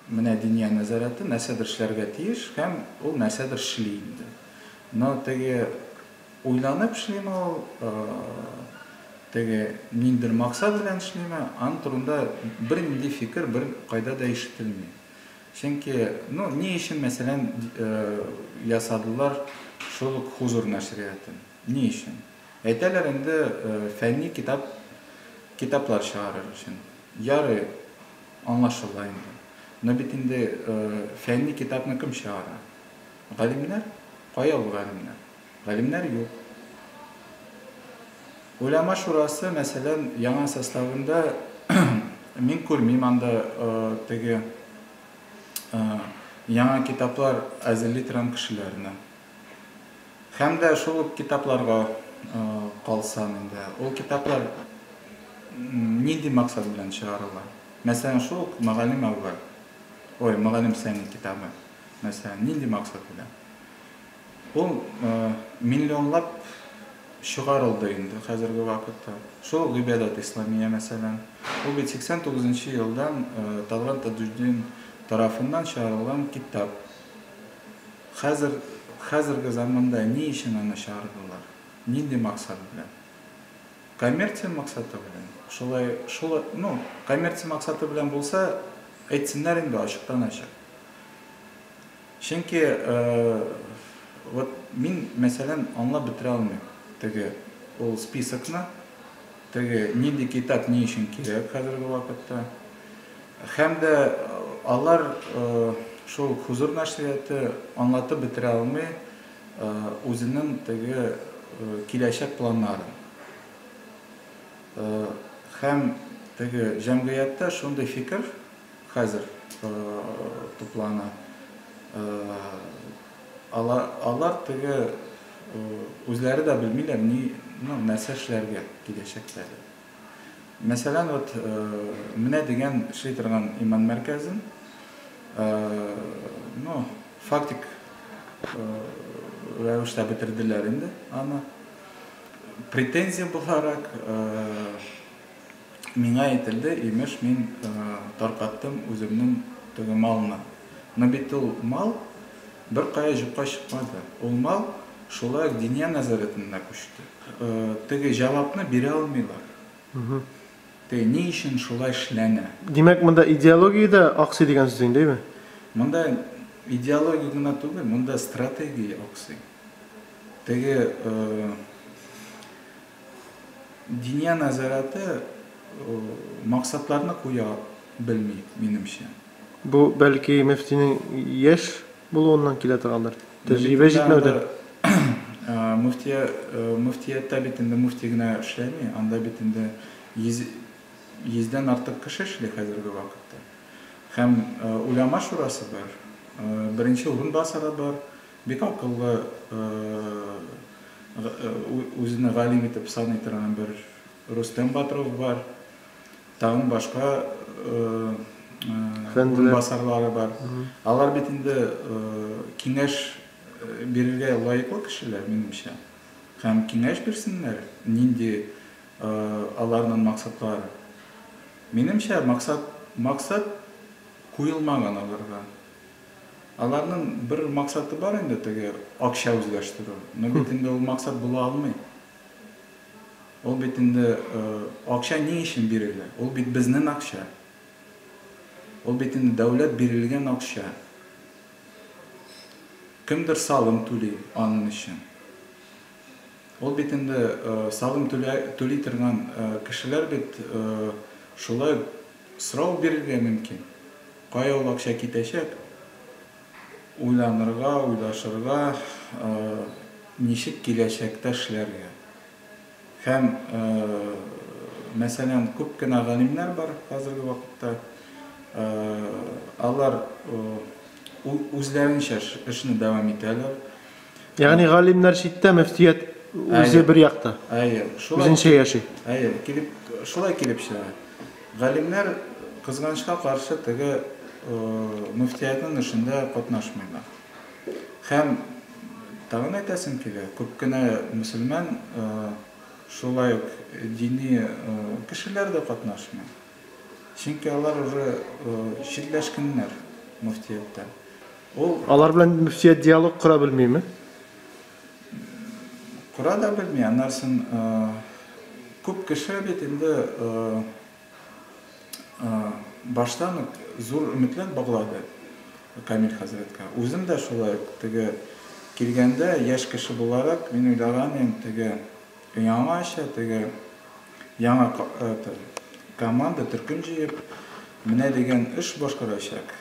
Менә Диния нәзарәте нәрсәдер эшләргә тиеш һәм ул нәрсәдер эшли инде. Но теге уйланып эшлиме ул, теге ниндидер максат белән эшлиме, аның турында бернинди фикер бер кайда да ишетелми. Чөнки, ну, ни өчен, мәсәлән, ясадылар шул ук Хузур нәшриятын? Ни өчен? Әйтәләр инде, фәнни китап, китаплар чыгарыр өчен. Ярый. Аңлашыла инде. Но бит инде фәнни китапны кем чыгара? Галимнәр? Кая ул галимнәр? Галимнәр юк. Уляма шурасы, мәсәлән, яңа составында мин күрмим анда теге яңа китаплар әзерли торган кешеләрне. Һәм дә шул ук китапларга калсам инде, ул китаплар нинди максат белән чыгарыла? Мәсәлән, шул ук Мөгаллим әүвәл, ой, Мөгаллим Сәни китабы, мәсәлән, нинди максат белән? Ул миллионлап чыгарылды инде хәзерге вакытта. Шул ук Гыйбадәт Исламия, мәсәлән, ул бит 89 нчы елдан Талгат Таҗетдин тарафыннан чыгарылган китап. Хәзер, хәзерге заманда ни өчен аны чыгардылар? Нинди максат белән? Коммерция максаты белән. Шулай, шул, ну, коммерция максаты белән булса, әйтсеннәр инде ачыктан-ачык. Чөнки, вот мин, мәсәлән, аңлап бетерә алмыйм теге ул списокны. Теге нинди китап ни өчен кирәк хәзерге вакытта? Һәм дә алар шул Хузур нәшрияты аңлатып бетерә алмый үзенең теге киләчәк планнарын. Һәм теге җәмгыятьтә шундый фикер хәзер туплана. Алар теге үзләре дә белмиләр ни, ну, нәрсә эшләргә киләчәктә дип. Мәсәлән, вот менә дигән эшли торган иман мәркәзен, ну, фактик рәвештә бетерделәр инде аны. Претензия буларак, Миңа әйтелде, имеш, мин таркаттым үземнең теге малны. Но бит ул мал беркая җокка чыкмады. Ул мал шулай ук Диния нәзарәтенә күчте. Теге җавапны бирә алмыйлар. Теге ни өчен шулай эшләнә? Димәк, монда идеология дә аксый дигән сүз инде, әйеме? Монда идеология гына түгел, монда стратегия аксый. Теге Диния нәзарәте максатларны куя белми, минемчә. Бу, бәлки, мөфтинең яшь булуыннан килә торгандыр? Тәҗрибә җитмәүдән? Мөфтияттә бит инде мөфти генә эшләми, анда бит инде йөздән артык кеше эшли хәзерге вакытта. Һәм Уляма шурасы бар, беренче урынбасары бар, Бик акыллы, үзене галим итеп саный торган бер Рустем Батров бар. Тагын башка урынбасарлары бар. Алар бит инде киңәш бирергә лаеклы кешеләр, минемчә. Һәм киңәш бирсеннәр, нинди аларның максатлары. Минемчә, максат куелмаган аларга. Аларның бер максаты бар инде, теге акча үзләштерү. Но бит инде ул максат була алмый. Ул бит инде акча ни өчен бирелә? Ул бит безнен акча. Ул бит инде дәүләт бирелгән акча. Кемдер салым түли анын өчен. Ул бит инде салым түли торган кешеләр бит шулай Срок бирергә мөмкин. Кая ул акча китәчәк? Уйланырга, уйлашырга, ничек киләчәктә эшләргә. Һәм, мәсәлән, күп кенә галимнәр бар хәзерге вакытта. Алар үзләренчә эшне дәвам итәләр. Ягъни галимнәр читтә, мөфтият үзе бер якта. Әйе, шулай. Үзенчә яши. Әйе, килеп, шулай килеп чыга. Галимнәр кызганычка каршы теге мөфтиятнең эшендә катнашмыйлар. Һәм тагын әйтәсем килә, күп кенә мөселман шулай ук дини кешеләр дә катнашмый. Чөнки алар уже читләшкәннәр мөфтияттән. Ул Алар белән мөфтият диалог кора белмиме? Кора да белми, аннарсын күп кеше бит инде баштан ук зур өметләр баглады Камил хәзрәткә. Үзем дә шулай ук теге килгәндә, яшь кеше буларак, мин уйлаган идем, теге Яңа эчә теге, яңа это, команда төркем җыеп, менә дигән эш башкарачак.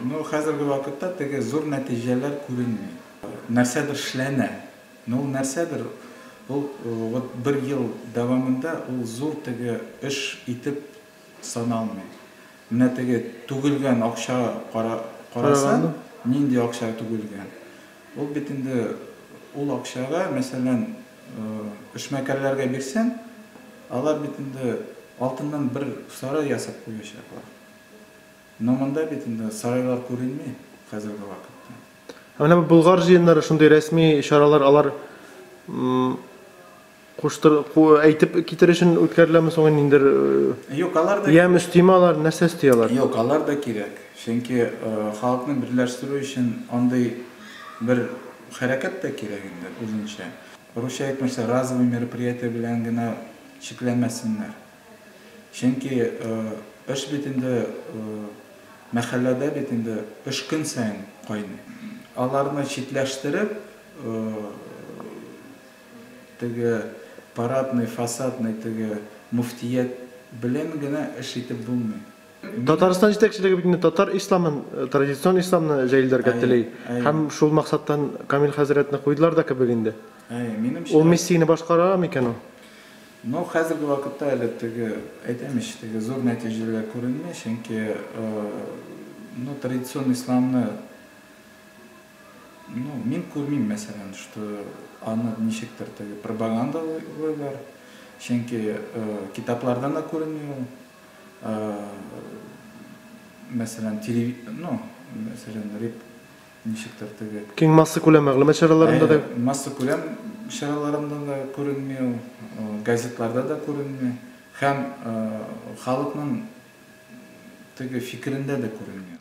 Ну, хәзерге вакытта теге зур нәтиҗәләр күренми. Нәрсәдер эшләнә, но ул нәрсәдер, ул вот бер ел дәвамында ул зур теге эш итеп саналмый. Менә теге түгелгән акча кара, карасаң, нинди акча түгелгән. Ул бит инде ул акчага, мәсәлән, эшмәкәрләргә бирсәң, алар бит инде алтыннан бер сарай ясап куячаклар. Но монда бит инде сарайлар күренми хәзерге вакытта. Ә менә бу Болгар җыеннары, шундый рәсми чаралар, алар, м-м. Куштыр, ку, әйтеп китер өчен үткәреләме соң инде ниндер э, Юк, алар да ямь өстиме алар, нәрсә өсти алар? Юк, алар да кирәк. Чөнки э, халыкны берләштерү өчен андый бер хәрәкәт тә кирәк инде үзенчә. Русча әйтмешсә, разовый мероприятие белән генә чикләнмәсеннәр. Чөнки э, эш бит инде э, мәхәлләдә бит инде эш көн саен кайный. Аларны читләштереп, э, Теге парадный, фасадный теге мөфтият белән генә эш итеп булмый. Мин. Татарстан җитәкчелеге бит инде татар исламын, традицион исламны җәелдергә Әйе, тели. әйе. Һәм шул максаттан Камил хәзрәтне куйдылар да кебек инде. Әйе, минемчә. Ул миссияне башкара микән ул? Ну, хәзерге вакытта әле теге, әйтәм ич, теге зур нәтиҗәләр күренми, чөнки, ну, традицион исламны. Ну, мин күрмим, мәсәлән, что аны ничектер теге пропагандалыйлар, чөнки китаплардан да күренми ул. Мәсәлән, телеви-, ну, мәсәлән, реп-, ничектер теге. Киң массакүләм мәгълүмат чараларында да. Әйе, массакүләм чараларында да күренми ул, газетларда да күренми һәм халыкның теге фикерендә дә күренми.